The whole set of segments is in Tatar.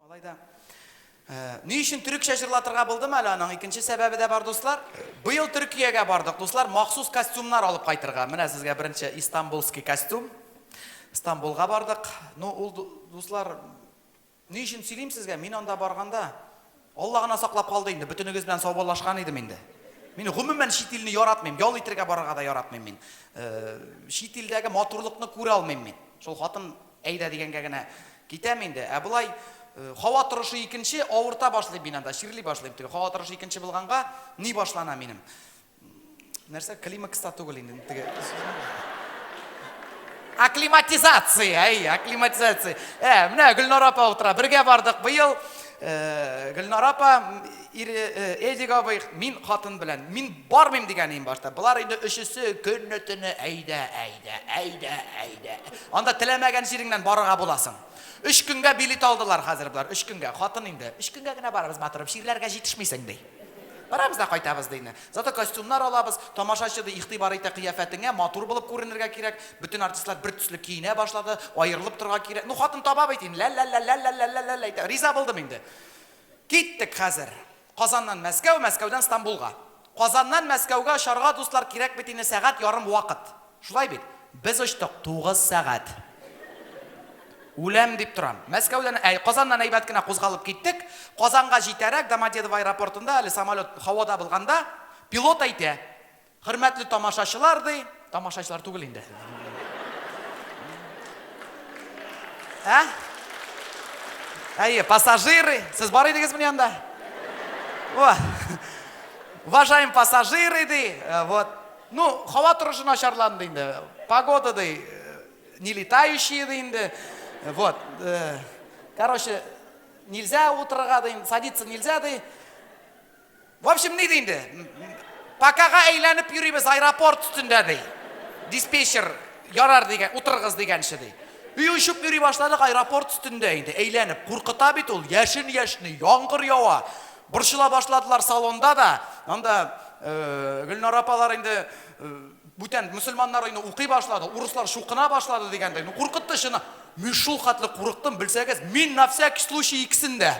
Алай да. Ни өчен төрекчә җырлатырга булдым әле аның икенче сәбәбе дә бар, дуслар. Быел Төркиягә бардык, дуслар, махсус костюмнар алып кайтырга. Менә сезгә беренче Истанбулский костюм. Стамбулга бардык. Ну, ул дуслар, ни өчен сөйлим сезгә? Мин анда барганда Алла гына саклап калды инде, бөтенегез белән саубаллашкан идем инде. Мин гомумән чит илне яратмыйм, ял итергә барырга да яратмыйм мин. Чит илдәге матурлыкны күрә алмыйм мин. Шул хатын Әйдә дигәнгә генә китәм инде. Ә болай һава торышы икенче, авырта башлыйм мин анда, чирли башлыйм. Теге һава торышы икенче булганга ни башлана минем? Нәрсә, климакста түгел инде. Теге Акклиматизация, әй, акклиматизация. Ә, менә Гөлнара апа утыра. Бергә бардык быел. Э, Гөлнара апа, ире э, Эдик абый, мин хатын белән. Мин бармыйм дигән ием башта. Болар инде өчесе көнне-төне әйдә, әйдә, әйдә, әйдә. Анда теләмәгән җиреңнән барырга буласың. Өч көнгә билет алдылар хәзер болар, өч көнгә. Хатын инде, өч көнгә генә барырбыз, матурым, чирләргә җитешмисең, ди. Барабыз да кайтабыз, ди инде. Зато костюмнар алабыз, тамашачы, ди, игътибар итә кыяфәтеңә, матур булып күренергә кирәк. Бөтен артистлар бер төсле киенә башлады, аерылып торырга кирәк. Ну, хатын таба бит инде, лә-лә-лә-лә-лә-лә-лә-лә-лә итә. Риза булдым инде. Киттек хәзер. Казаннан Мәскәү, Мәскәүдән Стамбулга. Казаннан Мәскәүгә очарга, дуслар, кирәк бит инде сәгать ярым вакыт. Шулай бит? Без очтык, тугыз сәгать. Үләм дип торам. Мәскәүдән, әй, Казаннан әйбәт кенә кузгалып киттек. Казанга җитәрәк, Домодедово аэропортында, әле самолет һавада булганда, пилот әйтә, Хөрмәтле тамашачылар, ди. Тамашачылар түгел инде. Ә? Әйе, пассажиры. Сез бар идегез мени анда? О. Уважаем пассажиры, ди. Э, вот. Ну, һава торышы начарланды инде. Погода, ди. Э, не летающие, ди инде. Вот. Э, короче, нельзя утырырга, ди. Садиться нельзя, ди. В общем, ни ди инде? Покага әйләнеп йөрибез аэропорт өстендә ди. Диспетчер ярар дигән, утырыгыз дигәнче ди. Өй очып йөри башладык аэропорт өстендә инде, әйләнеп. Куркыта бит ул, яшен яшни, яңгыр ява. Борчыла башладылар салонда да. Анда э, Гөлнара апалар инде э, Бүтән мөселманнар өйне укый башлады, урыслар чукына башлады дигәндәй. Ну куркытты чыны. Мин шул хәтле курыктым, белсәгез, мин на всякий случай икесен дә.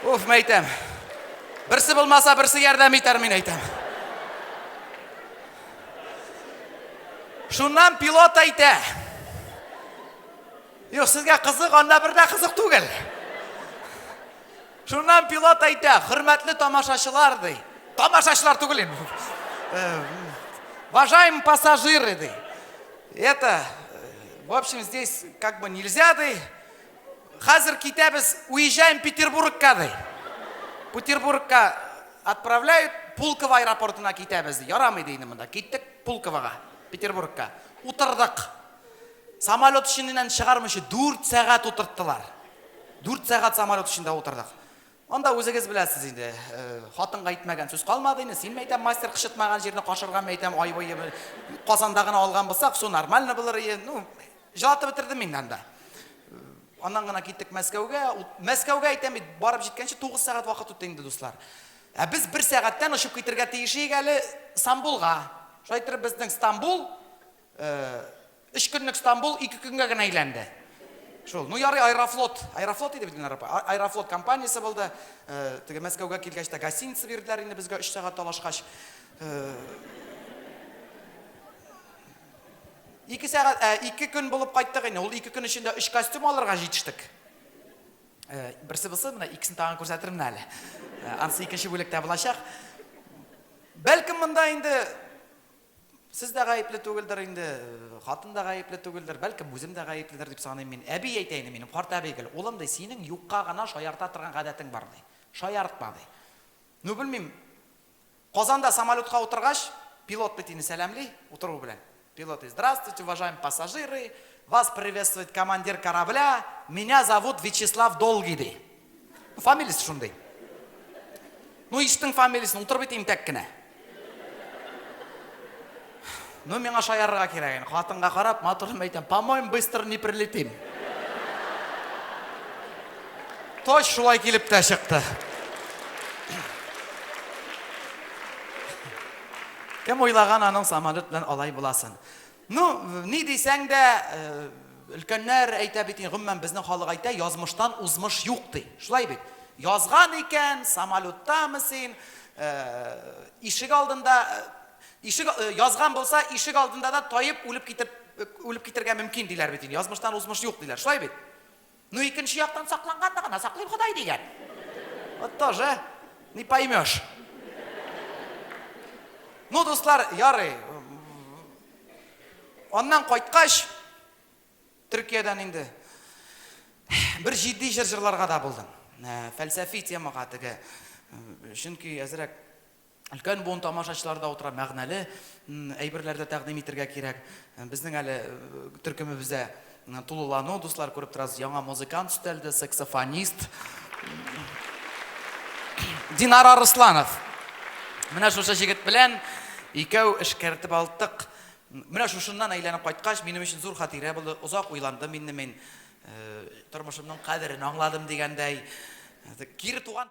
Уф, мәйтәм. Берсе булмаса, берсе ярдәм итәр, мин әйтәм. Шуннан пилот әйтә. Юк, сезгә кызык, анда бер дә кызык түгел. Шуннан пилот әйтә, хөрмәтле тамашачылар, ди. Тамашачылар түгел инде. Э, Уважаемые пассажиры, ди. Это, э, в общем, здесь как бы нельзя, ди. Хәзер китәбез, уезжаем Петербургка, ди. Петербургка отправляют, Пулково аэропортына китәбез, ди. Ярамый, ди, инде монда. Киттек Пулковога, Петербургка. Утырдык. Самолет эченнән чыгармыйча дүрт сәгать утырттылар. Дүрт сәгать самолет эчендә утырдык. Анда үзегез беләсез инде, э, хатынга әйтмәгән сүз калмады инде. Син мәйтәм мастер кышытмаган җирне кашырган мәйтәм ай буе Казанда гына алган булсак, су нормально булыр иде. Ну, җылатып бетердем мин анда. Аннан гына киттек Мәскәүгә. Мәскәүгә әйтәм бит, барып җиткәнче 9 сәгать вакыт үтте инде, дуслар. Ә без бер сәгатьтән очып китергә тиеш иек әле Стамбулга. Шулай итеп безнең Стамбул Өч көнлек Стамбул ике көнгә генә әйләнде. Шул. Ну ярый, Аэрофлот. Аэрофлот иде бит инде. Аэрофлот компаниясе булды. Теге Мәскәүгә килгәч тә гостиница бирделәр инде безгә өч сәгать талашкач. Ике сәгать, ә, ике көн булып кайттык инде. Ул ике көн эчендә өч костюм алырга җитештек. Берсе булсын, менә икесен тагын күрсәтермен әле. Ансы икенче бүлектә булачак. Бәлкем монда инде Сез дә гаепле түгелдер инде, хатын да гаепле түгелдер, бәлкем үзем дә гаепледер дип саныйм мин. Әби әйтә инде минем, карт әби гел, улым, ди, синең юкка гына шаярта торган гадәтең бар, ди. Шаяртма, ди. Ну, белмим, Казанда самолетка утыргач, пилот бит инде сәламли, утыру белән. Пилот, и, здравствуйте, уважаемые пассажиры, вас приветствует командир корабля, меня зовут Вячеслав Долгий, ди. Фамилиясе шундый. Ну, ишетең фамилиясен, утырып әйтәм тәк кенә. Ну, миңа шаярырга кирәк инде. Хатынга карап, матурым әйтәм, по-моему, быстро не прилетим. Точ шулай килеп тә чыкты. Кем уйлаган аның самолет белән алай буласын. Ну, ни дисәң дә, өлкәннәр әйтә бит, гомумән безнең халык әйтә, язмыштан узмыш юк ди. Шулай бит. Язган икән, самолеттамы син, ишек алдында, ишек язган булса, ишек алдында да таеп, үлеп китеп, үлеп китергә мөмкин диләр бит. Язмыштан узмыш юк диләр. Шулай бит. Ну икенче яктан сакланган да гына, саклыйм Ходай дигән. Вот тоже не поймешь. Ну, дуслар, ярый. Аннан кайткач, Төркиядән инде бер җитди җыр җырларга да булдым. Фәлсәфи темага теге. Чөнки әзрәк Өлкән буын тамашачылары да утыра, мәгънәле әйберләр дә тәкъдим итергә кирәк. Безнең әле төркемебездә тулылану, дуслар, күреп торасыз, яңа музыкант өстәлде, саксофонист. Динар Арысланов. Менә шушы җегет белән икәү эшкәртеп алдык. Менә шушыннан әйләнеп кайткач, минем өчен зур хатирә булды. Озак уйландым инде мин. Тормышымның кадерен аңладым дигәндәй. Кире туган